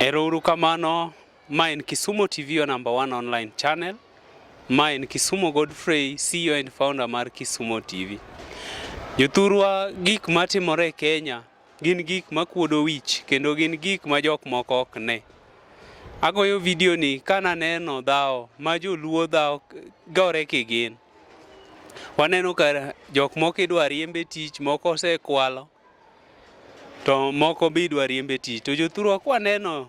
Erouru kamano, ma en Kisumo TV your number one online channel. Ma en Kisumo Godfrey, CEO and founder mar Kisumo TV. Jothurwa gik matimore e Kenya Gin gik makuodo wich kendo gin gik ma jok moko ok ne. Agoyo vidio ni ka naneno dhawo ma joluo dhawo gore kigin. Waneno ka jok moko idwa riembe tich, moko osekwalo, to moko be idwa riembe tich. To jothurwa kwaneno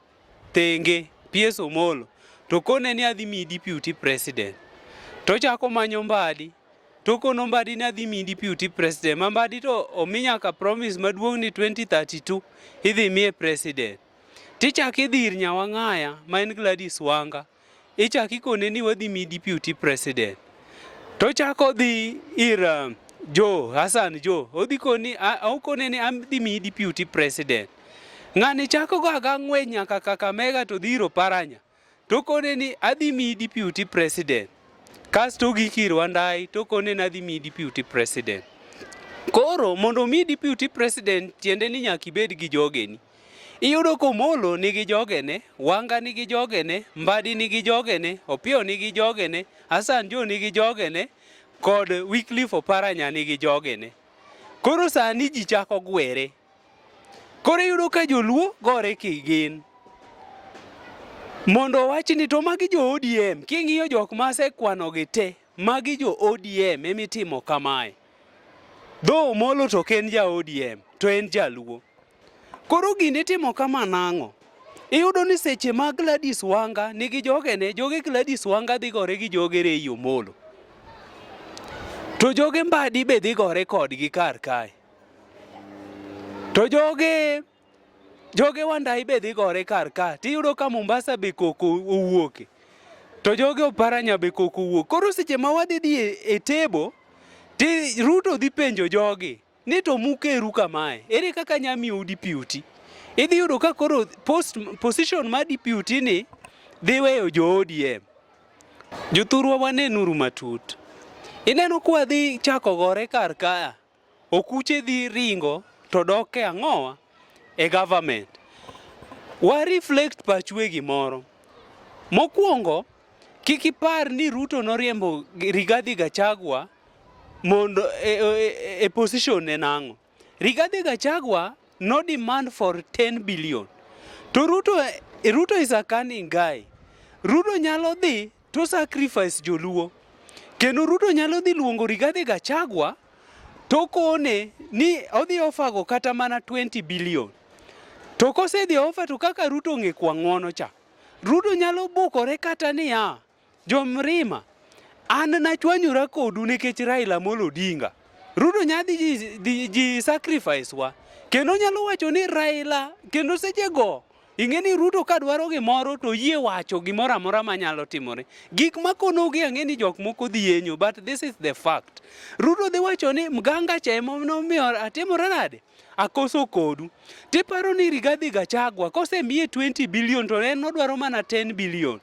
thenge PS Omolo to kone ni adhi miyi deputy president to chako manyo mbadi to kono mbadi ni adhi miyi deputy president ma mbadi to omi nyaka promise maduong' ni 2032 idhi miye president tichak idhi ir Nyawang'aya ma en Gladys Wanga ichak ikone ni wadhi mi deputy president to chako dhi ir uh, jo Hassan jo odhi koni okone ni adhi mi deputy president ng'ani chako go aga ng'we nyaka Kakamega to dhiro paranya to kone ni adhi mi deputy president kasto gikir wandai to kone ni adhi mi deputy president koro mondo mi deputy president tiende ni nyaka ibed gi jogeni Iyudo komolo nigi jogene, wanga nigi jogene, mbadi nigi jogene, opio nigi jogene, Hassan Jo nigi jogene kod Wycliffe Oparanya nigi jogene. Koro sani ji chako gwere. Koro iyudo ka joluo gore kigin. Mondo wach ni to magi jo ODM, king'iyo jok ma asekwanogi te, magi jo ODM emitimo kamae. Dho Omolo to ok en ja ODM, to en jaluo. Koro gini itimo kama nang'o? Iyudo ni seche ma Gladys Wanga nigi jogene, joge Gladys Wanga dhi gore gi joge Rei Omolo. To joge Mbadi be dhi gore kodgi kar kae. To joge Joge wandai be dhi gore kar ka, tiyudo ka Mombasa be koko owuoke. To joge oparanya be koko owuok. Koro seche ma wadhi dhi e, e tebo, ti Ruto dhi penjo jogi ni to mukeru kamae, ere kaka nyamiyo udi piuti? Idhi yudo ka koro post, position ma deputy ni dhi weyo jo ODM. Jothurwa wanenuru matut. Ineno kwa dhi chako gore kar kaya. Okuche dhi ringo to dok e ang'owa e government. Wa reflect pachwe gimoro. Mokwongo kik ipar ni Ruto noriembo Rigathi Gachagua mondo e, e, e, e position ne nang'o. Rigathi Gachagua no demand for 10 billion. To Ruto, Ruto is a cunning guy. Ruto nyalo dhi To sacrifice joluo. Kendo Ruto nyalo dhi luongo Rigathi Gachagua to kone ni odhi ofago kata mana 20 billion. To kosedhi ofa to kaka Ruto ng'e kwa ng'wono cha. Ruto nyalo bukore kata niya, jo Mrima, an nachwanyora kodu nikech Raila Amolo Odinga. Ruto nyadhi ji, ji, ji sacrifice wa. Kendo nyalo wacho ni Raila, kendo sechego Ing'e ni Ruto ka dwaro gimoro to yie wacho gimoro amora manyalo timore. Gik makonogi ang'e ni jok moko dhi yenyo but this is the fact. Ruto dhi wacho ni mganga cha ema nomiyo atimore nade? Akoso kodu. Tiparo ni Rigathi Gachagua kosemiye 20 billion to en odwaro mana 10 billion.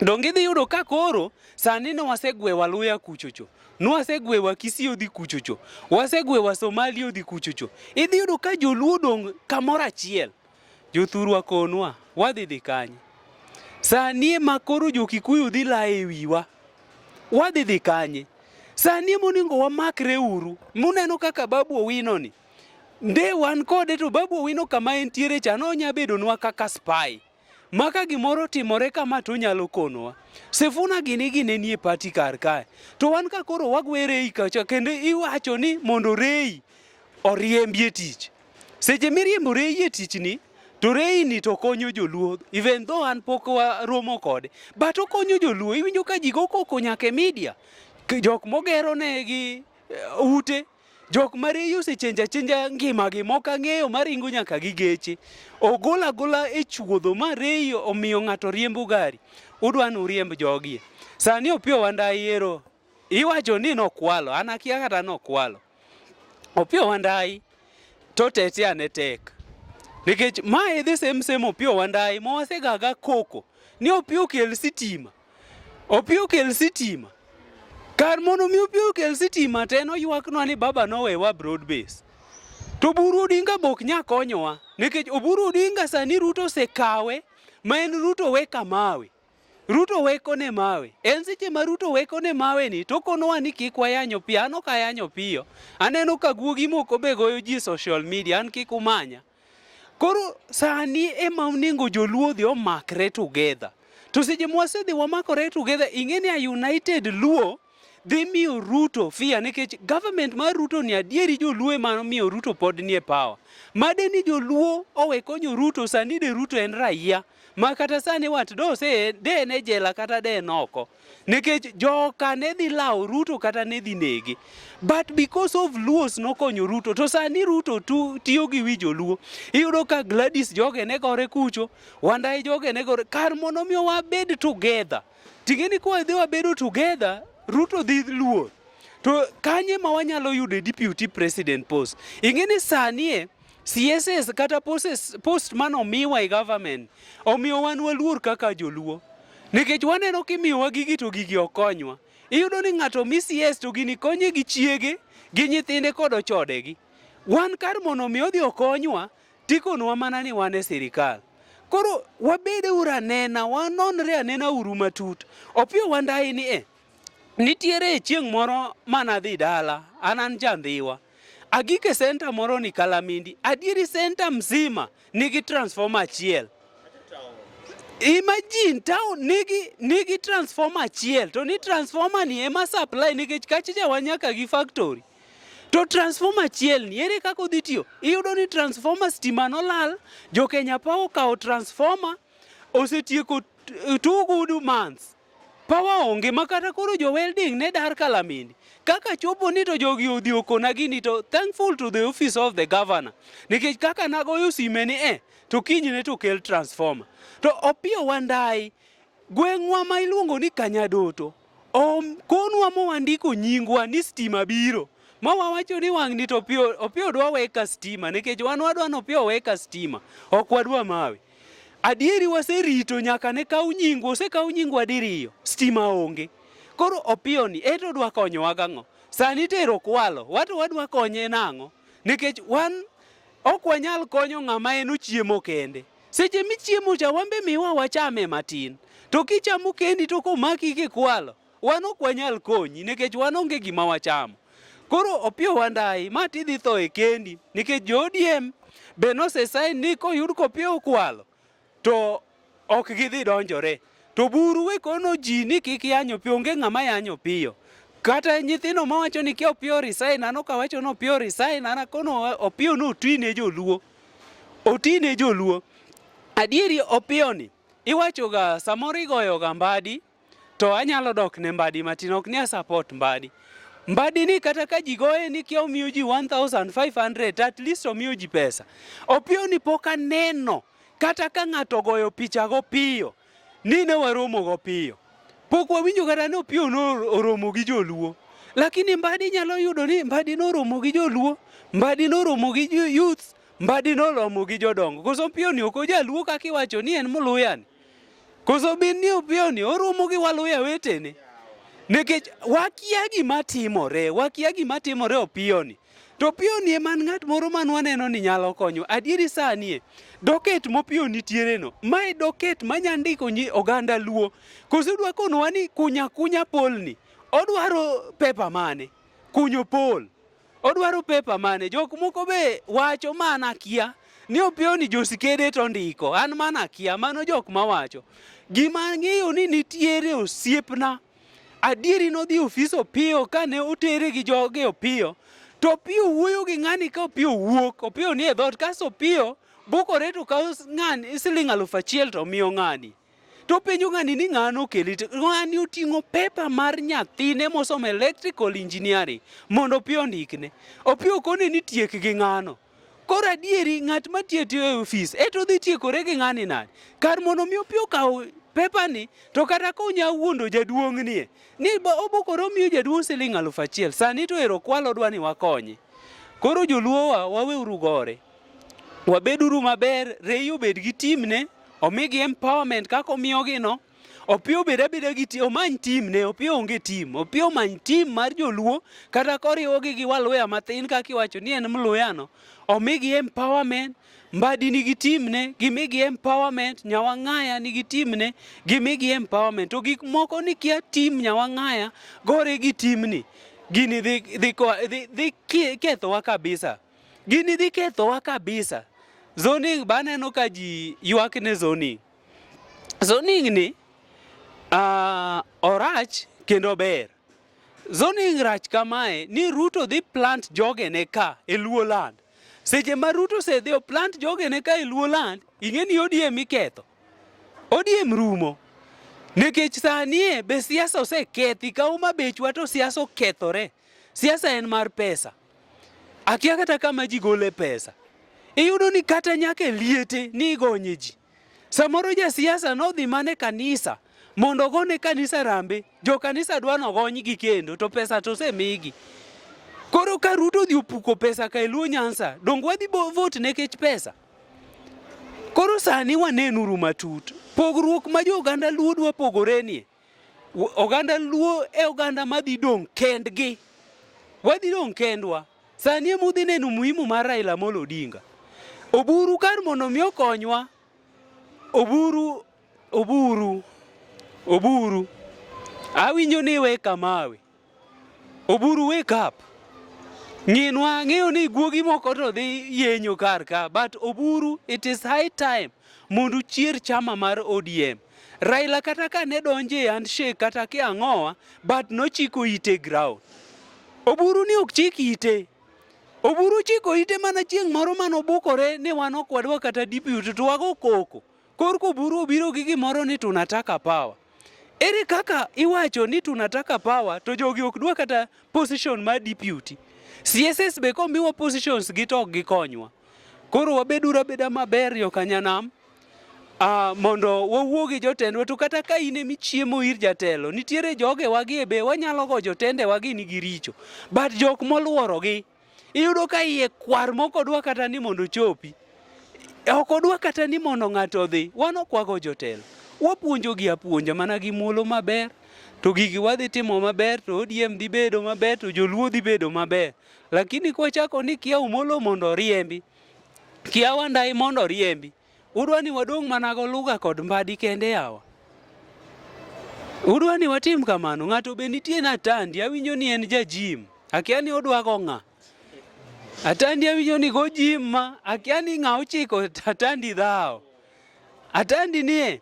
Donge idhi yudo ka koro sani ne wasegwewa luya kuchocho nwasegwewa Kisii odhi kuchocho wasegwewa Somali odhi kuchocho idhi yudo ka joluo dong' kamoro achiel Jothurwa konwa, wadhi dhi kanye? Sani ema koro jo-Kikuyu dhi layo e wiwa. Wadhi dhi kanye? Sani ema onego wamakre uru. Muneno kaka Babu Owino ni. Nde wan kode to Babu Owino kama entiere cha nonya bedonwa kaka spy. Ma ka gimoro otimore kama to onyalo konowa. Sifuna gini gine nie pati kar kae. To wan ka koro wagwere ei kacha kendo iwacho ni mondo reyi oriembi e tich. Seche miriembo reyi e tichni to reyini to konyo joluo even though an pok waromo kode but okonyo joluo iwinjo ka ji go koko nyaka e media jok mogero ne gi eh, ute jok ma reyi osechenjo achenja ngimagi mok ang'eyo maringo nyaka gi geche ogol agola e chuodho ma reyi omiyo ng'ato riembo gari udwa ni uriemb jogie sani opiyo wanda yiero Iwacho ni nokwalo, an akia kata nokwalo. Opiyo Wandayi to tete ane tek. Nikech ma e the same same Opiyo Wandayi ma wasegaga koko ni Opiyo kel sitima. Opiyo kel sitima. Kar mondo mi Opiyo kel sitima to en oywaknwa ni baba nowewa broad base. To Oburu Odinga be ok nya konyowa nikech Oburu Odinga sani Ruto osekawe ma en Ruto we kamawe. Ruto weko ne mawe. En seche ma Ruto weko ne mawe ni to konowa ni kik wayanyo piyo. An ok ayanyo piyo. Aneno ka guogi moko be goyo ji social media. An kik umanya. Koro sani ema onego joluo dhi omakre together. To seche mwasedhi wamakore together ing'e ni a united luo dhi miyo Ruto fia nikech government mar Ruto ni adieri joluo ema miyo Ruto pod nie power. Made ni joluo owe konyo Ruto sani de Ruto en raia ma kata sani wat do se de ne jela kata de noko nikech joka ne dhi lawo Ruto kata ne dhi nege but because of Luos nokonyo Ruto to sani Ruto tu, tiyo gi wi joluo iyudo ka Gladys joge ne gore kucho wandae joge ne gore kar mondo mi wabed together Tingeni kwa idhi wabedo together, Ruto dhi luor. To kanye ma wanyalo yudo deputy president post? Ingeni sanie CSS kata posts, post mano omiwa e government omiyo wan waluor kaka joluo nikech waneno kimiyowa gigi to gigi okonywa. Iyudo ni ng'ato mi CS to gini konye gi chiege gi nyithinde kod ochode gi. Wan kar mondo mi odhi okonywa Tikonwa mana ni wan e sirikal. Koro wabede uru anena, wanonre anena uru matut. Opiyo wandayi ni e, nitiere chieng' moro manadhi dala, an an jandhiwa. Agike senta moro ni Kalamindi, adieri senta mzima nigi transformer achiel. Imagine town nigi nigi transformer achiel to ni transformer ni ema supply nikech kachicha wanyaka gi factory. To transformer achiel ni ere kaka odhi tiyo? Iyudo ni transformer stima nolal, jo Kenya Power okawo transformer osetieko two good months. Power onge makata koro jo welding ne dar kalamini. Kaka chopo ni to jogi odhi okona gini to thankful to the office of the governor. Nikech kaka nagoyo sime ni eh to kiny ne to kel transformer. To opiyo wandai gweng'wa ma iluongo ni Kanyadoto Om konwa mowandiko nyingwa ni stima biro. Ma wawacho ni wang'ni to opio opio dwa weka stima nikech wan wadwa ni opio weka stima. Ok wadwa mawe. Adieri waserito nyaka ne kaw nyingwa, osekaw nyingwa diriyo, stima onge. Koro opio ni eto dwa konyowa gang'o? Sani tero kwalo, wato wadwa konye nang'o? Nikech wan ok wanyal konyo ng'ama en ochiemo kende. Seche michiemo cha wan be miwa wachame matin. To kichamo kendi to komaki kikwalo, wan ok wanyal konyi nikech wan onge gima wachamo. Koro Opiyo Wandayi, ma tidhi tho e kendi nikech jo ODM be nosesain ni koyud kopia okwalo to ok gidhi donjore to buru we kono ji ni kik yany opiyo onge ng'ama yany opiyo kata nyithindo mawacho ni kia opiyo resign an ok awacho ni opiyo resign an akono opiyo notwi ne joluo Oti ne joluo. Adieri opiyoni iwachoga samoro igoyoga mbadi to anyalo dok ne mbadi matin ok ni support mbadi. Mbadi ni kata ka ji goye ni kia omiyo ji 1500 at least omiyo ji pesa. Opiyoni pok aneno kata ka ng'ato ogoyo picha go piyo Ni ne waromogo piyo. Pok wawinjo kata ni Opiyo oromo gi joluo. Lakini Mbadi nyalo yudo ni Mbadi noromo gi joluo, Mbadi noromo gi youth, Mbadi noromo gi jodongo. Koso Opiyo ni ok ojaluo kaka iwacho ni en Mluya ni. Koso bin ni Opiyo ni oromo gi Waluya wetene. Nikech wakia gima timore, wakia gima timore Opiyo ni. To pioni e man ng'at moro man waneno ni nyalo konyo. Adieri sani e, doket mopiyo nitiere no. Mae doket manya ndiko nyi oganda luo. Koso udwa konwa ni kunya kunya polni. Odwaro pepa mane? Kunyo pol. Odwaro pepa mane? Jok moko be wacho mana kia ni opiyo ni josikede to ndiko. An mana kia, mano jok mawacho. Gima ang'eyo ni nitiere osiepna Adieri nodhi ofis Opiyo kane otere gi joge Opiyo to Opiyo wuoyo gi ng'ani ka Opiyo wuok Opiyo ni e dhoot kaso Opiyo bukore to kawo ng'ani siling' aluf achiel to miyo ng'ani to penjo ng'ani ni ng'ano okeli ng'ani oting'o pepa mar nyathine mosomo electrical engineering mondo Opiyo ondikne Opiyo kone ni tiek gi ng'ano Koro adieri ng'at ma tiyo tiyo e ofis e to dhi tiekore gi ng'ani nani? Kar mondo mi opi okaw pepani to kata ka onya wuondo jaduong' nie ni obokore omiyo jaduong' siling' alufu achiel sani to ero kwalo dwa ni wakonye. Koro joluowa waweuru gore, wabeduru maber, Rei obed gi timne, omigi empowerment kaka omiyogino. Opiyo beda beda gi tim, omany tim ne, Opiyo onge tim. Opiyo omany tim mar joluo, kata koriwogi gi waluya mathin kaka iwacho ni en mluyano. Omigi empowerment, Mbadi nigi tim ne, gimigi empowerment, Nyawang'aya nigi tim ne, gimigi empowerment. To gik moko ni kia tim Nyawang'aya gore gi timni, gini dhi, dhi, dhi, dhi kethowa kabisa. Gini dhi kethowa kabisa. Zoning baneno ka ji ywak ne zoning. Zoning ni uh, orach kendo ber. Zoning rach kamae ni Ruto dhi plant jogene ka e Luo land. Seche ma Ruto se dhi plant jogene ka e Luo land, ing'e ni ODM iketho. ODM rumo. Nikech sanie be siasa osekethi ka uma bechwa to siasa okethore. Siasa en mar pesa. Akia kata kama ji gole pesa. Iyudo ni kata nyaka e liete ni igonye ji. Samoro ja siasa nodhi mana e kanisa mondo ogone kanisa rambe, jo kanisa dwa nogonygi kendo to pesa to osemigi. Koro ka Ruto odhi opuko pesa ka e Luo Nyanza, donge wadhi vote nekech pesa? Koro sani wanenuru matut pogruok ma jo oganda Luo dwa pogorenie. Oganda Luo e oganda madhi dong' kendgi, wadhi dong' kendwa. Sani ema udhi neno muhimu mar Raila Amolo Odinga. Oburu kar mondo mi okonywa, oburu oburu oburu awinjo ni iwe kamawe Oburu wake up. Ng'inwa ng'eyo ni guogi moko to dhi yenyo kar ka but Oburu it is high time mondo uchier chama mar ODM. Raila kata ka ne donje e handshake kata ki ang'owa but nochiko ite ground. Oburu ni ok chik ite. Oburu chiko ite mana chieng' moro mane obukore ni wan ok wadwa kata deputy to wago koko. Korko buru obiro gi gimoro ni tunataka power. Ere kaka iwacho ni tunataka power to jogi ok dwa kata position ma deputy. CSS be komiwa positions gi to ok gikonywa. Koro wabeduru abeda maber yo kanyanam Uh, mondo wawuo gi jotendwa to kata ka in emi chiemo ir jatelo nitiere joge wagi e be wanyalo go jotende wagi nigi richo but jok moluoro gi Iyudo ka iye kwar moko dwa kata ni mondo ochopi. E, ok odwa kata ni mondo ng'ato odhi. Wan okwago jotelo. Wapuonjogi apuonja mana gi muolo maber. To gigi wadhi timo maber, to ODM dhi bedo maber, to joluo dhi bedo maber. Lakini kwachako ni kia umolo mondo oriembi. Kiawa ndai mondo oriembi. Udwa ni wadong' mana goluga kod mbadi kende yawa? Udwa ni watim kamano? Ng'ato be nitie na tandi, awinjo ni en jajim. Akia ni odwa go ng'a. Atandi awinjo ni go jim ma, akia ni ng'a ochiko atandi dhawo. Atandi nie,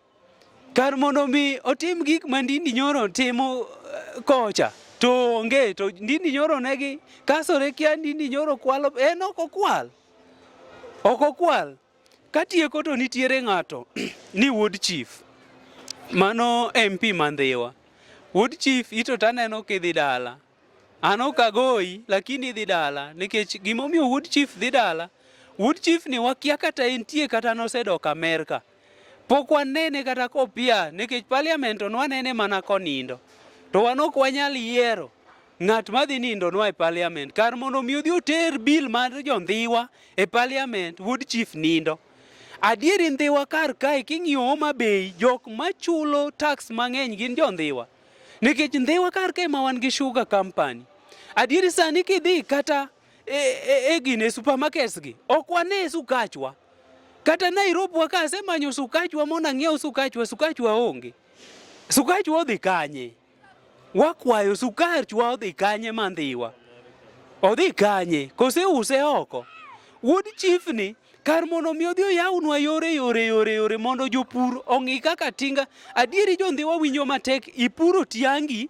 kar mondo mi otim gik ma ndindi nyoro timo eh, kocha to onge to ndindi nyoro negi kasore kia ndindi nyoro kwalo en ok okwal ok okwal Katieko to nitiere ng'ato ni Wuod Chief. Mano MP Mandhiwa. Wuod Chief ito taneno kidhi dala. An ok agoyi lakini idhi dala nikech gimomiyo Wuod Chief dhi dala. Wuod Chief ni wakia kata entie kata nosedok Amerka. Pok wanene kata kopia nikech parliament onwanene mana konindo. To wan ok wanyal yiero Ng'at ma dhi nindo nwa e parliament kar mondo mi odhi oter bill mar jondhiwa e parliament wuod chief nindo. Adieri ndhiwa kar kae king'iyo Homa Bay jok machulo tax mang'eny gin jondhiwa. Nikech ndhiwa kar kae ma wan gi sugar company. Adieri sani kidhi kata e, e, e gine supermarkets gi ok wane sukachwa. Kata Nairobi wa ka asemanyo sukachwa mondo ang'iew sukachwa, sukachwa onge. Sukachwa odhi kanye? Wakwayo sukari chwa odhi kanye mandhiwa? Odhi kanye? Kose use oko? Wuod chief ni kar mondo mi odhi oyawnwa yore yore yore yore mondo jopur ong'i kaka tinga adieri jondhiwa winjo matek ipuro tiangi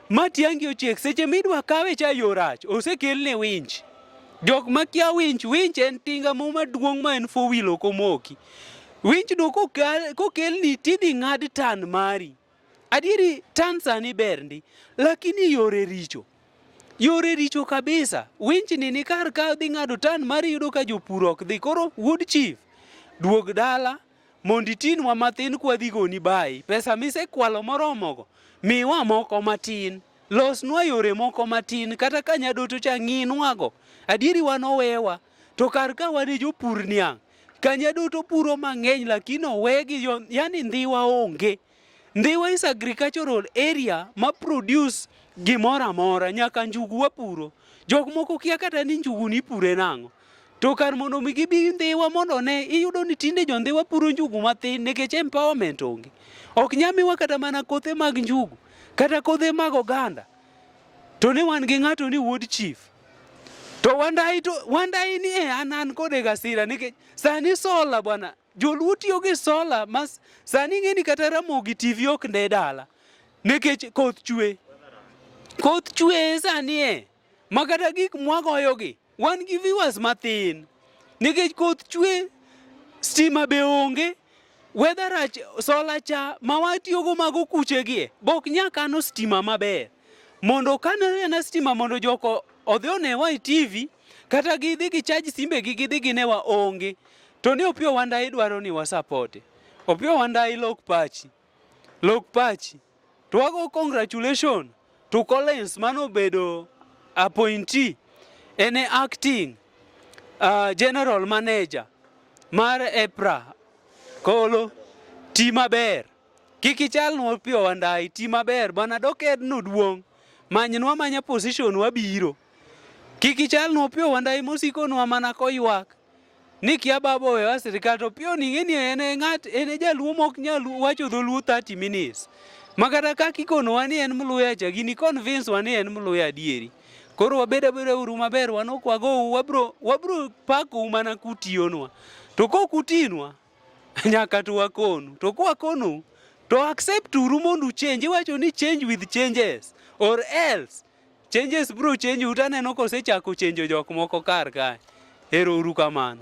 ma tiangi ochiek seche midwa kawe cha yorach osekelne winch jok makia winch winch en tinga mo maduong' ma en four wheel ok omoki winch do kokelni tidhi ng'ad tan mari Adieri tan sani ber ndi, lakini yore richo. Yore richo kabisa. Winchni ni kar ka dhi ng'ado tan mar yudo ka jopur ok dhi. Koro wuod chief, duog dala mondo itinwa matin kwa dhi goni bayi. Pesa misekwalo moromogo, miwa moko matin. Losnwa yore moko matin. Kata ka nyadoto cha ng'inwago. Adieri wan owewa. To kar ka wan e jopur niang', kanye duto puro mang'eny lakini owegi yo, yani ndhiwa onge. Ndhiwa is agricultural area ma produce gimoro amora, nyaka njugu wapuro. Jok moko kia kata ni njugu ni pure nang'o. To kar mondo mi gibi ndhiwa mondo ne, iyudo ni tinde jo ndhiwa puro njugu mathin nikech empowerment onge. Ok nyamiwa kata mana kothe mag njugu, kata kothe mag oganda. to ne wan gi ng'ato ni wuod chief to wandayi to wandayi ni e an an kode gasira nikech sani sola bwana joluo tiyo gi sola mas sani ng'eni kata ramogi tv ok nde dala nikech koth chwe koth chwe sani e ma kata gik mwagoyogi Wan gi viewers mathin nikech koth chwe, stima be onge, weather rach, sola cha ma watiyogo mago kuchegie bok nyakano stima maber mondo kano ena stima mondo joko odhi onewa e TV kata gidhi gi chaj simbe gi gidhi ginewa onge to ni Opiyo Wandayi dwaro ni wasapoti. Opiyo Wandayi lok pachi. Lok pachi. To wago congratulation to Collins mano bedo appointee en e acting uh, general manager mar EPRA kolo ti maber kik ichalnwa piyo wandai ti maber bwana dokedno duong' manynwa manya position wabiro kik ichalnwa piyo wandai mosikonwa mana koywak ni kia baba owewa sirikal to piyo ning'e ni en e ng'at en e jaluo mok nyal wacho dholuo 30 minutes ma kata kaka ikonowa ni en mluya cha gini convince wa ni en mluya adieri koro wabed abeda uru maber wan ok wagou wabro wabro pakou mana kutiyonwa to kok utinwa nyaka to wakonu to kwakonou to accept uru mondo uchenji wacho ni change with changes or else Changes bro change utaneno kosechako chenjo jok moko kar kae. Ero uru kamano.